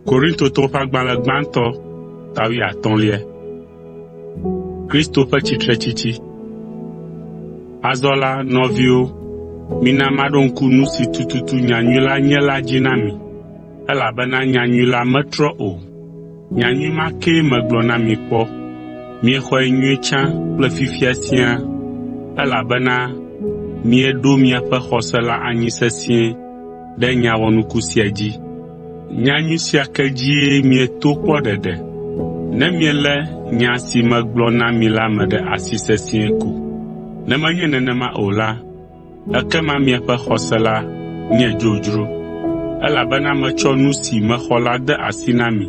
Korintotɔ ƒe agbalẽ gbãtɔ ta wuiatɔ̃lia. Kristo ƒe tsitretsitsi Azɔ la, nɔviwo, mina maɖo ŋku nu si tututu nyanyui la nye la dzi na mi, elabena nyanyui la metrɔ o. Nyanyui ma kee megblɔ na mi kpɔ. Miexɔe nyuie tsã kple fifia siaa, elabena mieɖo miaƒe xɔse la anyi sesĩe ɖe nya wɔnuku sia dzi. Nyanyui sia ke dzie mieto kpɔ ɖeɖe, ne mielé nya si megblɔ na mi la me ɖe asi sesĩe ko. Ne menye nenema o la, Ekema miaƒe xɔse la nye dzodzro, elabena metsɔ nu si mexɔ la de asi na mi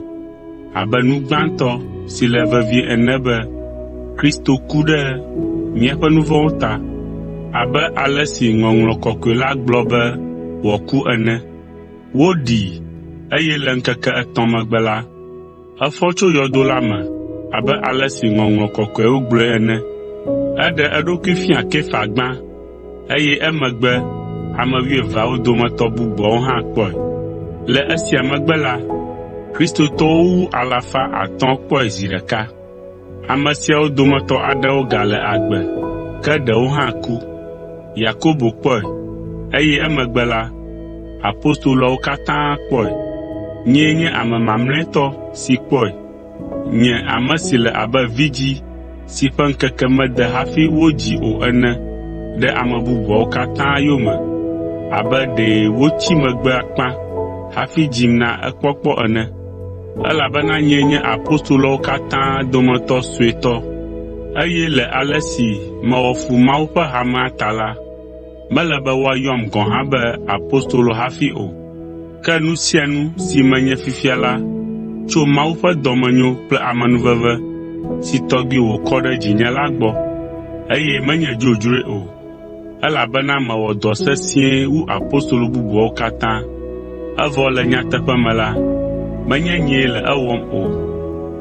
abe nu gbãtɔ si le vevie ene be Kristo ku ɖe míaƒe nu vɔ̃wo ta, abe ale si Ŋɔŋlɔ Kɔkɔe la gblɔ be wòaku ene. Woɖii, eye le ŋkeke etɔ̃ megbe la, Efɔ tso yɔdo la me abe ale si Ŋɔŋlɔ Kɔkɔeawo gblɔe ene. Eɖe eɖokui fia Kefa gbã, eye emegbe ame wuieveawo dometɔ bubuawo hã kpɔe. Le esia megbe la, Kristotɔwo wu alafa atɔ̃ kpɔe zi ɖeka. Ame siawo dometɔ aɖewo gale agbe, ke ɖewo hã ku. Yakobo kpɔe, eye emegbe la, apostoloawo katã kpɔe. Nyee nye ame mamlɛtɔ si kpɔe, nye ame si le abe vidzĩ si ƒe ŋkeke mede hafi wodzii o ene ɖe ame bubuawo katã yome abe ɖe wotsi megbe akpa hafi dzim na ekpɔkpɔ ene. Elabena nyee nye apostoloawo katã dometɔ suetɔ, eye le ale si mewɔ fu Mawu ƒe hamea ta la, mele be woayɔm gɔ̃ hã be apostolo hafi o. Ke nu sia nu si menye fifia la tso Mawu ƒe dɔmenyo kple amenuveve si tɔgbi wòkɔ ɖe dzinye la gbɔ, eye menye dzodzroe o. Elabena mewɔ dɔ sesĩe wu apostolo bubuawo katã, evɔ le nyateƒe me la, menye nyee le ewɔm o,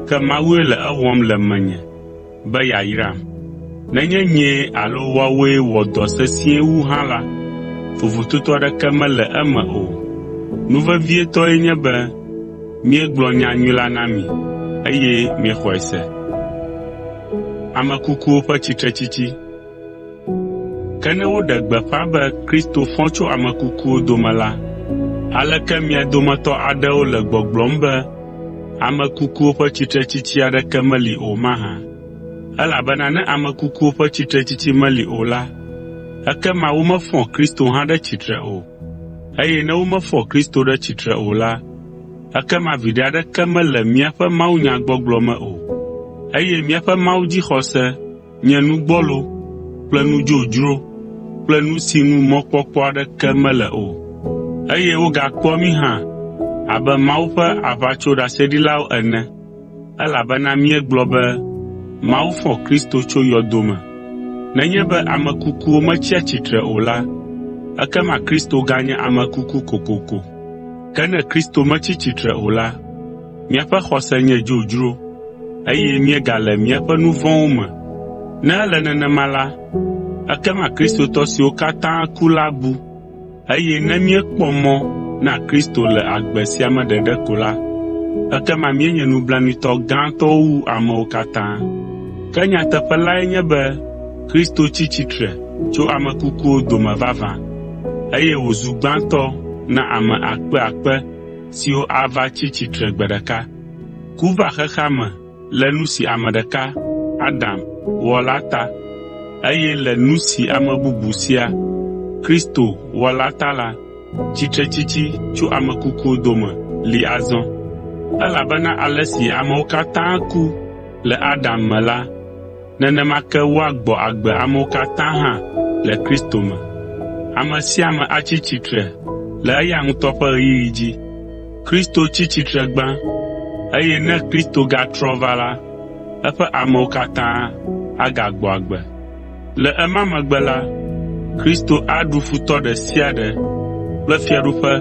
ke Mawue le ewɔm le menye be yeayram. Nenye nyee alo woawoe wɔ dɔ sesĩe wu hã la, vovototo aɖeke mele eme o. Nu vevietɔe nye be míegblɔ nyanyui la na mi eye miexɔe se. Ke ne woɖe gbeƒã be Kristo fɔ tso ame kukuwo dome la, aleke mia dometɔ aɖewo le gbɔgblɔm be ame kukuwo ƒe tsitretsitsi aɖeke meli o mahã? Elabena ne ame kukuwo ƒe tsitretsitsi meli o la, ekema womefɔ Kristo hã ɖe tsitre o. Eye ne womefɔ Kristo ɖe tsitre o la, ekema viɖe aɖeke mele míaƒe mawunyagbɔgblɔ me o, eye míaƒe Mawu dzixɔse nye nu gbɔlo kple nu dzodzro kple nu si ŋu mɔkpɔkpɔ aɖeke mele o, eye wogakpɔa mí hã abe Mawu ƒe aʋatsoɖaseɖilawo ene, elabena míegblɔ be Mawu fɔ Kristo tso yɔdo me. Nenye be ame kukuwo metsia tsitre o la, ekema Kristo ganye ame kuku kokoko. Ke ne Kristo metsi tsitre o la, Míaƒe xɔse nye dzodzro, eye míegale míaƒe nu vɔ̃wo me. Ne ele nenema la, ekema Kristotɔ siwo katã ku la bu, eye ne míekpɔ mɔ na Kristo le agbe sia me ɖeɖe ko la, ekema míenye nublanuitɔ gãtɔwo wu amewo katã. Ke nyateƒe lae nye be Kristo tsi tsitre tso ame kukuwo dome vavã, eye wòzu gbãtɔ na ame akpeakpe. siwo ava tsi tsitre gbe ɖeka. Ku va xexea me le nu si ame ɖeka, Adam, wɔ la ta, eye le nu si ame bubu sia, Kristo, wɔ la ta la, tsitretsitsi tso ame kukuwo dome li azɔ. Elabena ale si amewo katã ku le Adam me la, Nenema ke woagbɔ agbe amewo katã hã le Kristo me. Ame sia ame atsi tsitre le eya ŋutɔ ƒe ɣeyiɣi dzi. Kristo tsi tsitre gbã, eye ne Kristo gatrɔ va la, eƒe amewo katã agagbɔ agbe. Le ema megbe la, Kristo aɖu futɔ ɖe sia ɖe kple fiaɖuƒe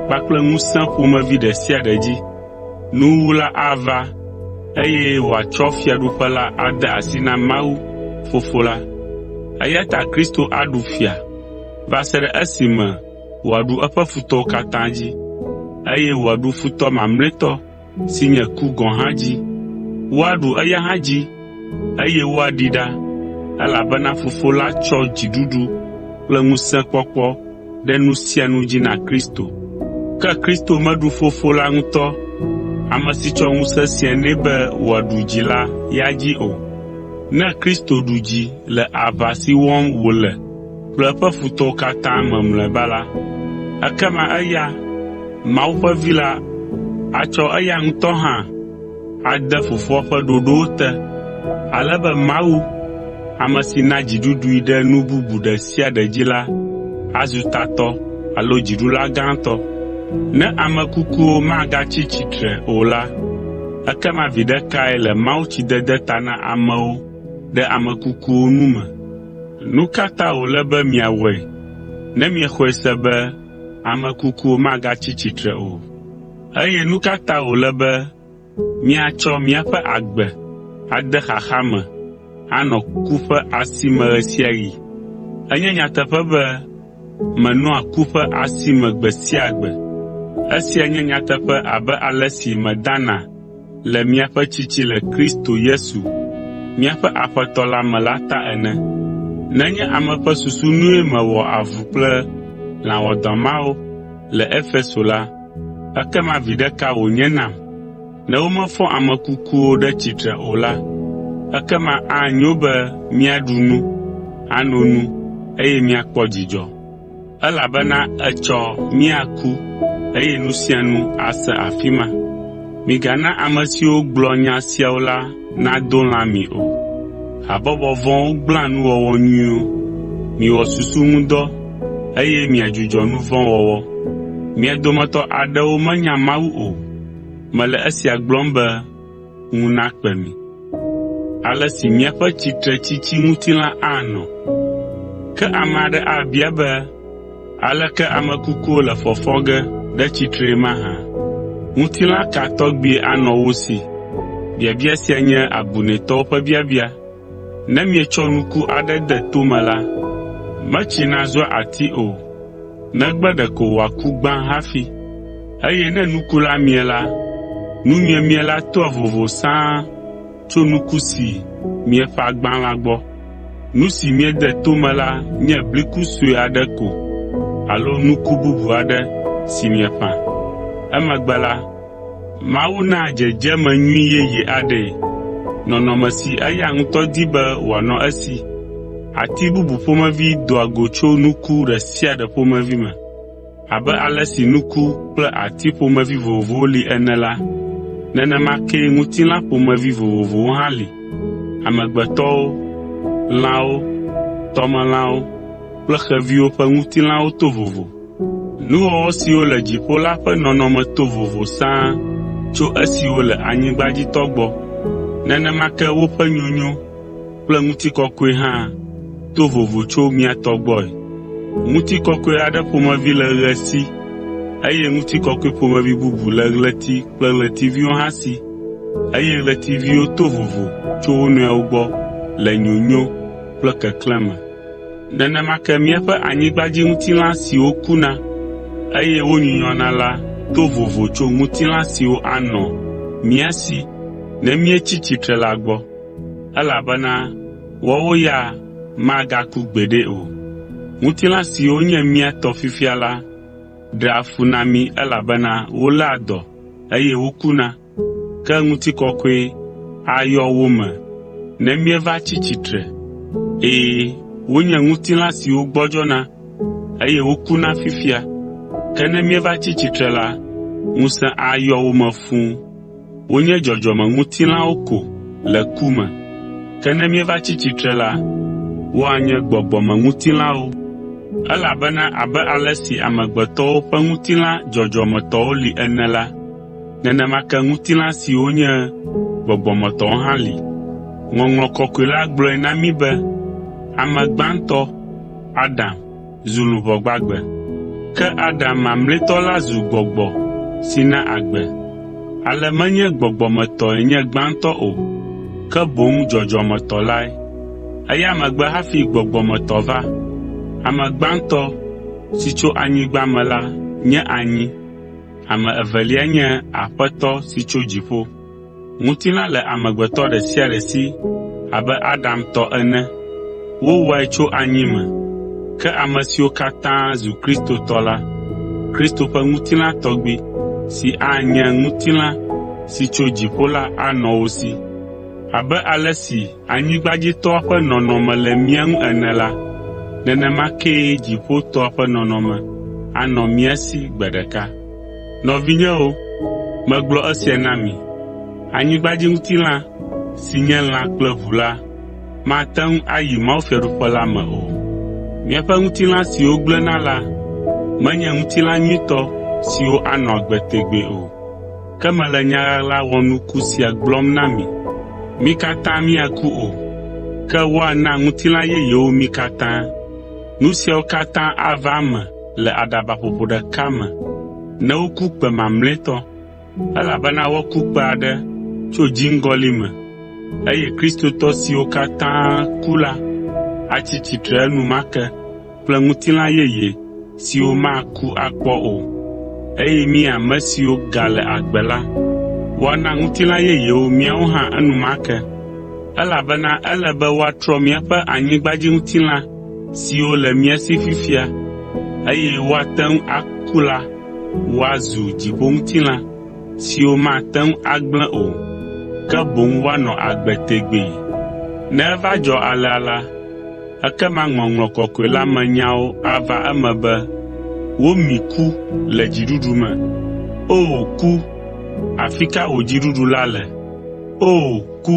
kpakple ŋusẽ ƒomevi ɖe sia ɖe dzi. Nuwuwu la ava, eye wòatsɔ Fiaɖuƒe la ade asi na Mawu, Fofo la. Eya ta Kristo aɖu fia va se ɖe esime wòaɖu eƒe futɔwo katã dzi, eye wòaɖu futɔ mamlɛtɔ si nye ku gɔ̃ hã dzi. Woaɖu eya hã dzi, eye woaɖii ɖa, elabena Fofo la tsɔ dziɖuɖu kple ŋusẽkpɔkpɔ ɖe nu sia nu dzi na Kristo. Ke Kristo meɖu Fofo la ŋutɔ, ame si tsɔ ŋusẽ sia nɛ be wòaɖu dzi la ya dzi o. Ne Kristo ɖu dzi le aʋa si wɔm wòle kple eƒe futɔwo katã me mlɔeba la, ekema eya, Mawu ƒe Vi la, atsɔ eya ŋutɔ hã, ade Fofoa ƒe ɖoɖowo te, ale be Mawu, ame si na dziɖuɖui ɖe nu bubu ɖe sia ɖe dzi la azu tatɔ alo dziɖula gãtɔ. Ne ame kukuwo magatsi tsitre o la, ekema viɖe kae le mawutsidede ta na amewo ɖe ame kukuwo nu me? Nu ka ta wòle be miawɔe ne miexɔe se be ame kukuwo magatsi tsitre o? Eye nu ka ta wòle be míatsɔ míaƒe agbe ade xaxa me anɔ ku ƒe asi me ɣe sia ɣi? Enye nyateƒe be menɔa ku ƒe asi me gbe sia gbe. Esia nye nyateƒe abe ale si medana le miaƒe tsitsi le Kristo Yesu, míaƒe Aƒetɔ la me la ta ene. Nenye ame ƒe susu nue mewɔ avu kple lã wɔadã mawo le Efeso la, Ekema viɖe ka wònye nam? Ne womefɔ ame kukuwo ɖe tsitre o la, ekema anyo be míaɖu nu, ano nu, eye míakpɔ dzidzɔ, elabena etsɔ míaku eye nu sia nu ase afi ma. Migana ame siwo gblɔ nya siawo la nado lã mi o. Habɔbɔ vɔ̃wo gblẽa nuwɔwɔ nyuiwo. Miwɔ susu ŋu dɔ, eye miadzudzɔ nu vɔ̃ wɔwɔ. Mia dometɔ aɖewo menya Mawu o. Mele esia gblɔm be ŋu nakpe mi. Ale si míaƒe tsitretsitsi ŋutilã anɔ. Ke ame aɖe abia be, Aleke ame kukuwo le fɔfɔ ge ɖe tsitree mahã? Ŋutilã ka tɔgbie anɔ wo si? Biabia sia nye abunɛtɔwo ƒe biabia. Ne mietsɔ nuku aɖe de to me la, metsina zua ati o, negbe ɖeko wòaku gbã hafi. Eye ne nuku la mie la, nu miemie la toa vovo sãa. tso nuku si mieƒã gbã la gbɔ. Nu si miede to me la nye bliku sue aɖe ko alo nuku bubu aɖe si mieƒã. Emegbe la, Mawu naa dzedzeme nyui yeye aɖee, nɔnɔme si eya ŋutɔ di be wòanɔ esi. Ati bubu ƒomevi doa go tso nuku ɖe sia ɖe ƒomevi me. Abe ale si nuku kple ati ƒomevi vovovowo li ene la, nenema kee ŋutilã ƒomevi vovovowo hã li. Amegbetɔwo, lãwo, tɔmelãwo kple xeviwo ƒe ŋutilãwo to vovo. Nuwɔwɔ siwo le dziƒo la ƒe nɔnɔme to vovo sãa tso esiwo le anyigbadzitɔ gbɔ. Nenema ke woƒe nyonyo kple ŋutikɔkɔe hã to vovo tso mía tɔ gbɔe. Ŋutikɔkɔe aɖe ƒomevi le ɣe si eye ŋutikɔkɔe ƒomevi bubu le ɣleti kple ɣletiviwo hã si, eye ɣletiviwo to vovo tso wo nɔewo gbɔ le nyonyo kple keklẽ me. Nenema ke míaƒe anyigbadziŋutilã siwo kuna eye wonyunyɔna la to vovo tso ŋutilã siwo anɔ mía si ne míetsi tsitre la gbɔ. elabena woawo ya magaku gbeɖe o. Ŋutilã siwo nye mía tɔ fifia la ɖea fu na mí elabena woléa dɔ eye wokuna. Ke ŋutikɔkɔe ayɔ wo me ne míeva tsi tsitre. Ɛ̃, wonye ŋutilã siwo gbɔdzɔna eye wokuna fifia, ke ne míeva tsi tsitre la, ŋusẽ ayɔ wo me fũu. Wonye dzɔdzɔmeŋutilãwo ko le ku me, ke ne míeva tsi tsitre la, woanye gbɔgbɔmeŋutilãwo. Elabena abe ale si amegbetɔwo ƒe ŋutilã dzɔdzɔmetɔwo li ene la, nenema ke ŋutilã siwo nye gbɔgbɔmetɔwo hã li. Ŋɔŋlɔ Kɔkɔe la gblɔe na mí be ame gbãtɔ, Adam, zu luʋɔ gbagbe, ke Adam mamlɛtɔ la zu gbɔgbɔ si na agbe. Ale menye gbɔgbɔ me tɔe nye gbãtɔ o, ke boŋ dzɔdzɔme tɔ lae. Eya megbe hafi gbɔgbɔ me tɔ va. Ame gbãtɔ si tso anyigba me la nye anyi, ame evelia nye Aƒetɔ si tso dziƒo. Ŋutilã le amegbetɔ ɖe sia ɖe si abe Adam tɔ ene. Wowɔe tso anyi me, ke ame siwo katã zu Kristo tɔ la, Kristo ƒe ŋutilã tɔgbi, si anye ŋutilã si tso dziƒo la anɔ wo si. Abe ale si anyigbadzitɔa ƒe nɔnɔme le mía ŋu ene la, nenema kee dziƒotɔa ƒe nɔnɔme anɔ mía si gbe ɖeka. Nɔvinyewo, megblɔ esia na mi: Anyigbadziŋutilã si nye lã kple ʋu la mate ŋu ayi mawufiaɖuƒe la me o. Míaƒe ŋutilã siwo gblẽna la menye ŋutilã nyuitɔ siwo anɔ agbe tegbee o. Ke mele nya ɣaɣla wɔnuku sia gblɔm na mi: Mí katã míaku o, ke woana ŋutilã yeyewo mí katã. Nu siawo katã ava eme le aɖabaƒoƒo ɖeka me ne woku kpẽ mamlɛtɔ, elabena woaku kpẽ aɖe tso dziŋgɔli me, eye Kristotɔ siwo katã ku la atsi tsitre enumake kple ŋutilã yeye siwo maku akpɔ o. Eye mí ame siwo gale agbe la, woana ŋutilã yeyewo míawo hã enumake, elabena ele be woatrɔ míaƒe anyigbadziŋutilã siwo le mía si fifia, eye woate ŋu aku la woazu dziƒoŋutilã siwo mate ŋu agblẽ o, ke boŋ woanɔ agbe tegbee. Ne eva dzɔ alea la, ekema ŋɔŋlɔ kɔkɔe la me nyawo ava eme be, “Womi ku le dziɖuɖu me.” O ku, afi ka wò dziɖuɖu la le? O ku!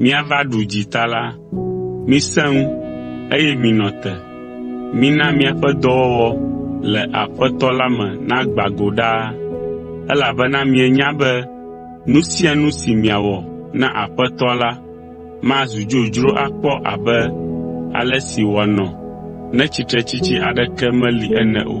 míava ɖu dzi ta la, misẽ ŋu, eye minɔ te. Mina miaƒe dɔwɔwɔ le Aƒetɔ la me nagbã go ɖaa, elabena mienya be nu sia nu si miawɔ na Aƒetɔa la mazu dzodzro akpɔ abe ale si wòanɔ ne tsitretsitsi aɖeke meli ene o.